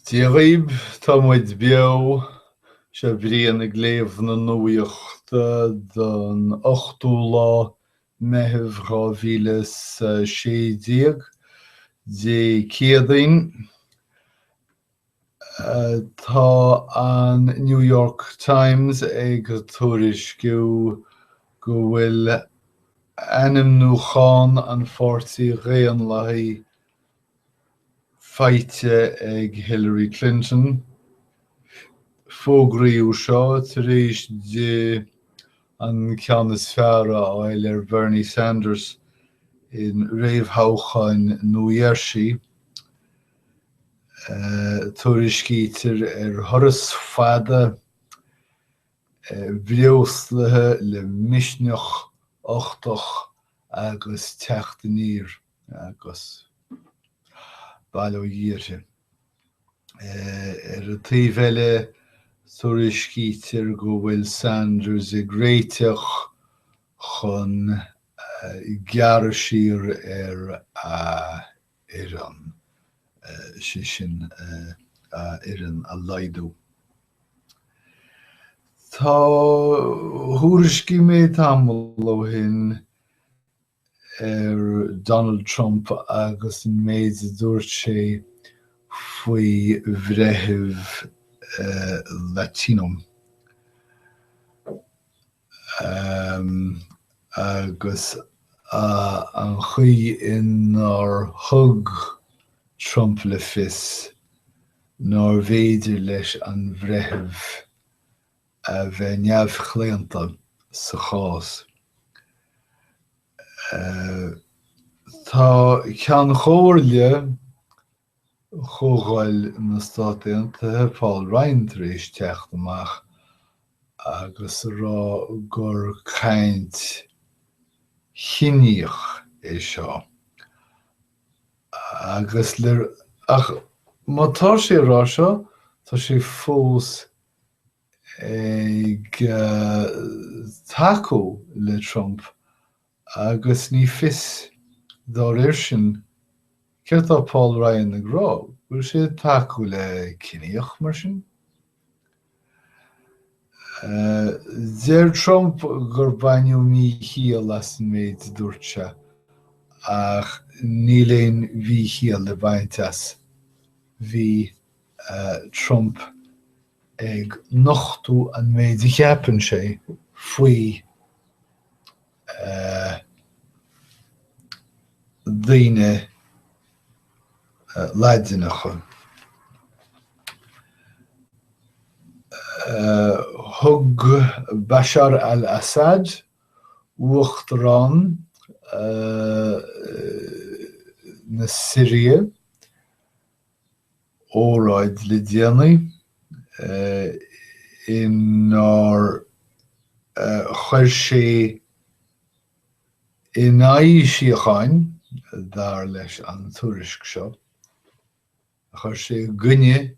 Dé dhaoibh, tá muid beo! Seo Brian ag léamh na nuaíochta don 8ú lá Meitheamh 2016, Dé Céadaoin. Tá an New York Times ag tuairisciú go bhfuil ainmniúchán an Pháirtí Dhaonlathaigh faighte ag Hillary Clinton. Fógraíodh seo tar éis di an ceann is fearr a fháil ar Bhernie Sanders in réamhthoghcháin New Jersey. Tuairiscítear ar thuras fada breoslaithe le misneach uchtach agus teacht aniar. agus bail ó Dhia uirthi. Ar an taobh eile, tuairiscítear go bhfuil Sanders ag réiteach chun gearradh siar ar a fhoireann, sé sin a fhoireann a laghdú. Tá thuairiscigh mé tamall ó shin ar Donald Trump agus an méid a dúirt sé faoi bhreitheamh Latino agus an chaoi inar thug Trump le fios nárbh fhéidir leis an bhreitheamh a bheith neamhchlaonta sa chás. Tá Ceann Chomhairle Chomhdháil na Stát Aontaithe, Paul Ryan, tar éis teacht amach agus a rá gur caint chiníoch é seo. Agus ach má tá sé ag rá seo, tá sé fós ag tacú le Trump agus ní fios, dá réir sin, céard atá Paul Ryan ag rá, go bhfuil sé ag tacú le ciníoch mar sin? Deir Trump gur baineadh míchiall as an méid a dúirt sé, ach níl aon mhíchiall le baint as. Bhí. Trump ag nochtadh an méid a cheapann sé faoi daoine Laidineacha. Thug Bashar al-Assad, uachtarán na Siria, óráid le déanaí inar chuir sé in aghaidh síochána, dar leis an tuairisc seo, chuir sé i gcoinne,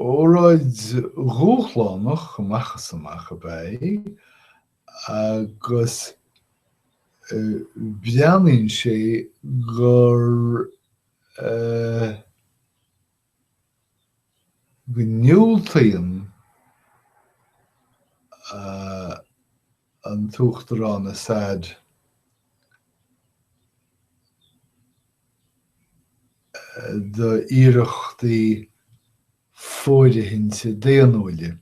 Óráid dhúshlánach amach is amach ab ea í agus breathnaíonn sé gur go ndiúltaíonn an tUachtarán Assad d'iarrachtaí fóirithinte daonnúila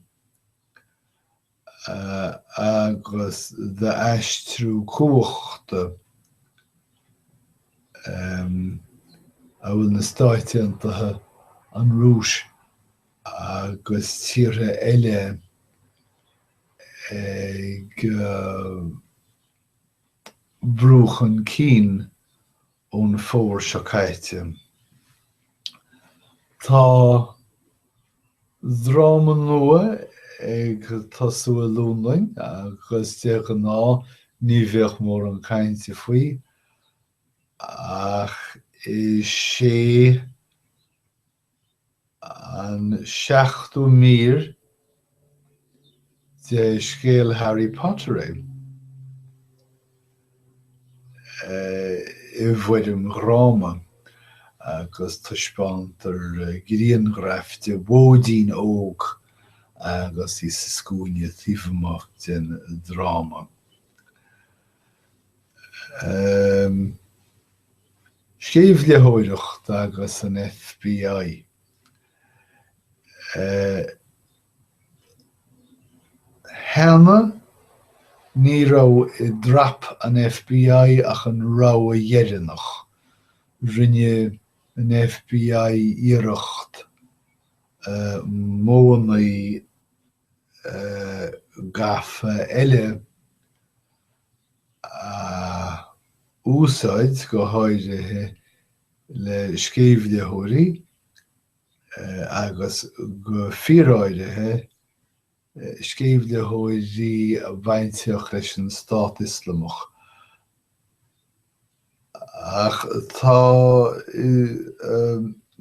agus d'aistriú cumhachta a bhfuil na Stáit Aontaithe, an Rúis agus tíortha eile ag brú chun cinn ón Fómhar seo caite. Tá dráma nua ag tosú i Londain agus de ghnáth ní bheadh mórán cainte faoi, ach is é. An seachtú mír de scéal Harry Potter é, i bhfoirm dhráma, agus taispeántar grianghraf de mhóidín óg agus í sa scuaine taobh amuigh den dráma. Sceimhlitheoireacht agus an FBI. Cheana, ní raibh i dtrap an FBI ach an rogha dheireanach. Rinne an FBI iarracht modhanna gafa eile a úsáid, go háirithe le sceimhlitheoirí agus go fíoráirithe sceimhlitheoirí a bhainfeadh leis an Stát Ioslamach. Ach tá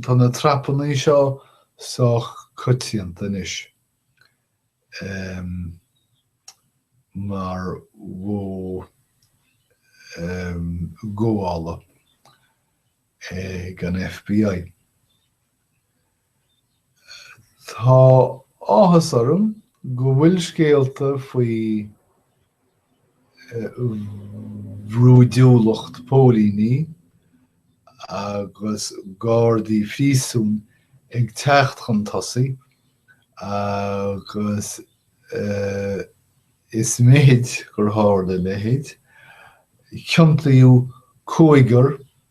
tá na trapannaí seo sách coitianta anois mar mhodh gabhála ag an FBI. Tá áthas orm go bhfuil scéalta faoi bhrúidiúlacht póilíní agus gardaí phríosúin ag teacht chun tosaigh agus is mithid gur tharla a leithéid. Ciontaíodh cúigear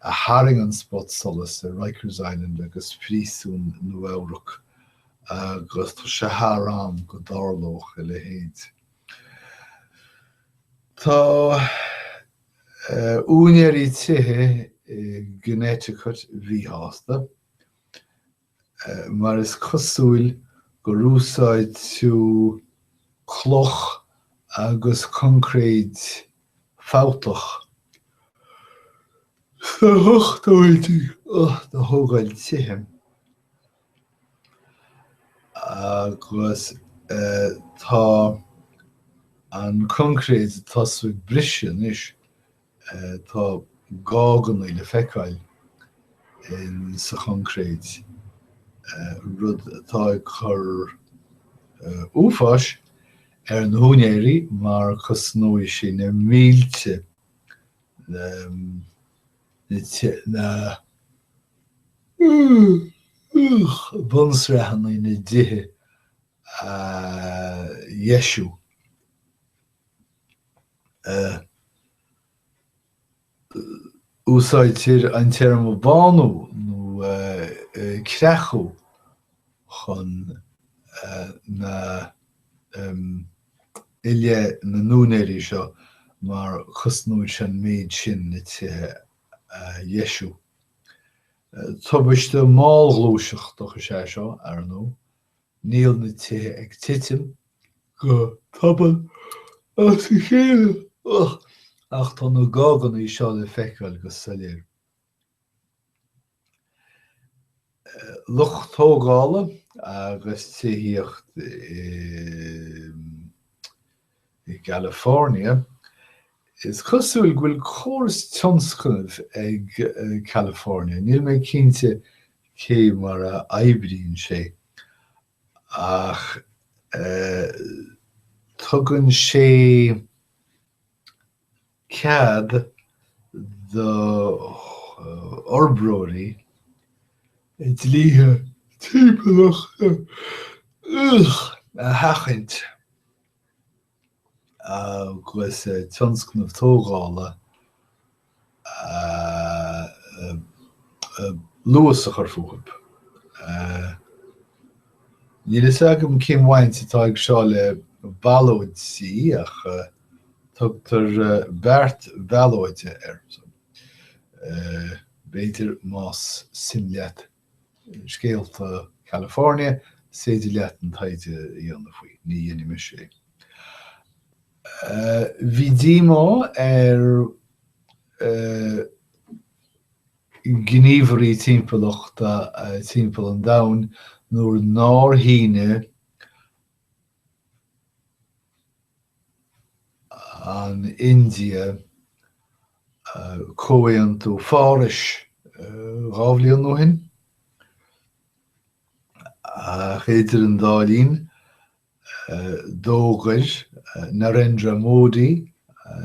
a tharraing an spotsolas ar Rikers Island agus Príosún Nua-Eabhrac agus tá sé thar am go dtarlódh a leithéid. Tá úinéirí tithe i gConnecticut míshásta. mar is cosúil gur úsáideadh cloch agus concréid fabhtach sna hochtóidí do thógáil tithe, agus tá an concréid ag tosú ag briseadh anois Tá gáganna le feiceáil insa choncréid, rud atá ag cur uafáis ar na húinéirí mar cosnóidh sé na mílte na bunsraitheanna ina dtithe a dheisiú. Úsáidtear an téarma bánú nó creachadh chun na i leith na n-úinéirí seo mar cosnóidh sé an méid sin na tithe a dheisiú. Tubaiste mall-ghluaiseachtach is é seo, ar ndóigh. Níl na tithe ag titim go tobann as a chéile ach tá na gáganna seo le feiceáil go soiléir. Lucht tógála agus tithíocht i. i gCalifornia. Is cosúil go bhfuil córas tionscnaimh ag California, níl mé cinnte cé mar a oibríonn sé, ach tugann sé cead do fhorbróirí dlíthe timpeallachta a sheachaint agus tionscnaimh tógála luas a chur fúthu. Níl a fhios agam cén bhaint atá aige seo le ballóidí ach. Tugtar beart ballóide air. So. B'fhéidir más suim leat scéalta California, is féidir leat an taighde a dhéanamh faoi. Ní dhéanfaimis é. Bhí díomá ar ghníomhairí timpeallachta timpeall an domhain nuair nár shíneadh an India, Comhaontú Pháras dhá bhliain ó shin, ach idir an dá linn, d'fhógair Narendra Modi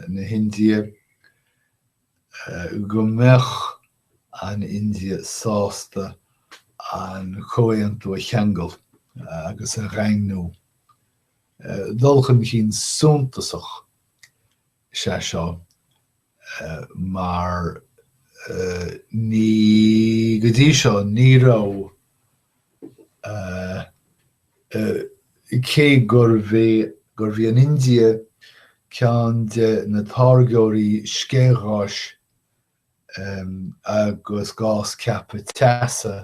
na hIndia, go mbeadh an India sásta an comhaontú a cheangal agus a dhaingniú. Dul chun cinn suntasach is ea seo mar go dtí seo ní raibh Cé gurbh é gurbh í an India ceann de na táirgeoirí sceithgháis agus gás ceaptha teasa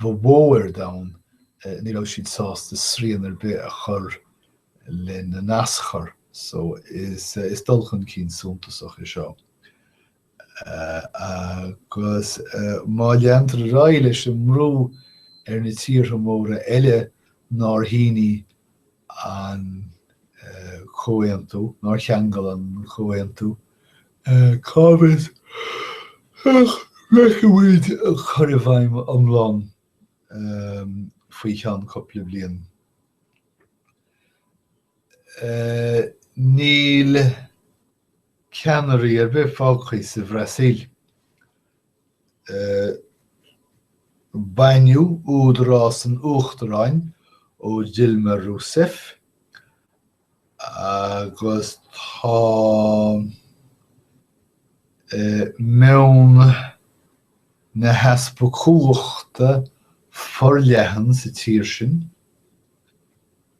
ba mhó ar domhan, ní raibh siad sásta srian ar bith a chur lena n-aschur, so is is dul chun cinn suntasach é seo. Agus má leantar ar aghaidh leis an mbrú ar na tíortha móra eile nár shínigh an comhaontú, nár cheangail an comhaontú, cá bhfios, feicfimid an cur i bhfeidhm iomlán faoi cheann cúpla bliain. Níl ceannairí ar bith fágtha sa Bhrasaíl. Baineadh údarás an uachtaráin ó Dilma Rousseff agus tá meon na heaspa cumhachta forleathan sa tír sin.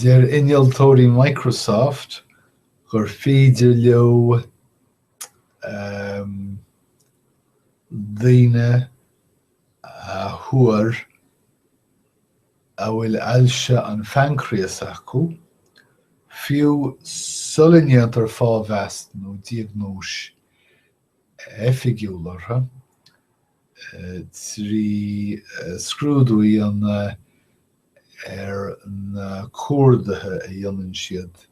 Deir innealtóirí Microsoft gur féidir leo daoine a thuar a bhfuil ailse an phaincréas acu, fiú sula ndéantar fáthmheas nó diagnóis oifigiúil orthu. trí scrúdú a dhéanamh ar na cuardaithe a dhéanann siad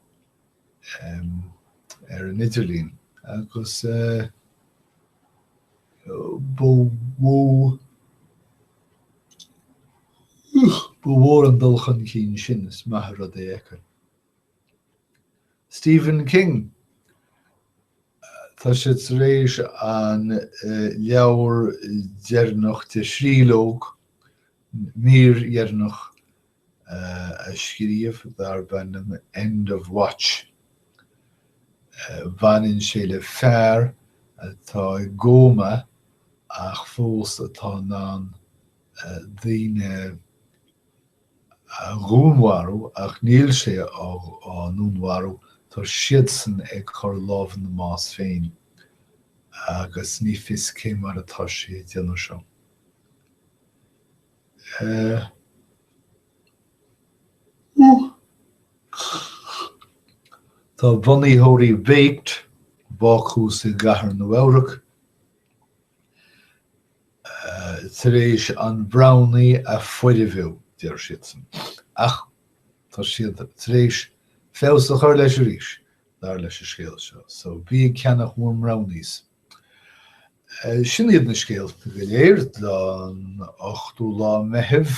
ar an idirlíon agus ba ba mhór an dul chun cinn sin, is maith an rud é. Stephen King Tá sé tar éis an leabhar deireanach de thríológ mírdheireanach a scríobh darb ainm End of Watch. Baineann sé le fear atá i gcóma ach fós atá in ann daoine. dhúnmharú ach níl sé á ndúnmharú, tá siadsan ag cur lámh ina mbás féin agus ní fios cé mar atá sé a déanamh seo. Tá bunaitheoirí Baked, Bácús i gCathair Nua-Eabhrac, tar éis an Brownie a fhoirfiú, deir siadsan, ach tá siad tar éis feabhas a chur leis arís, dar leis an scéal seo, so bí ag ceannach bhur mBrownies! Sin iad na scéalta go léir don 8ú lá Meitheamh.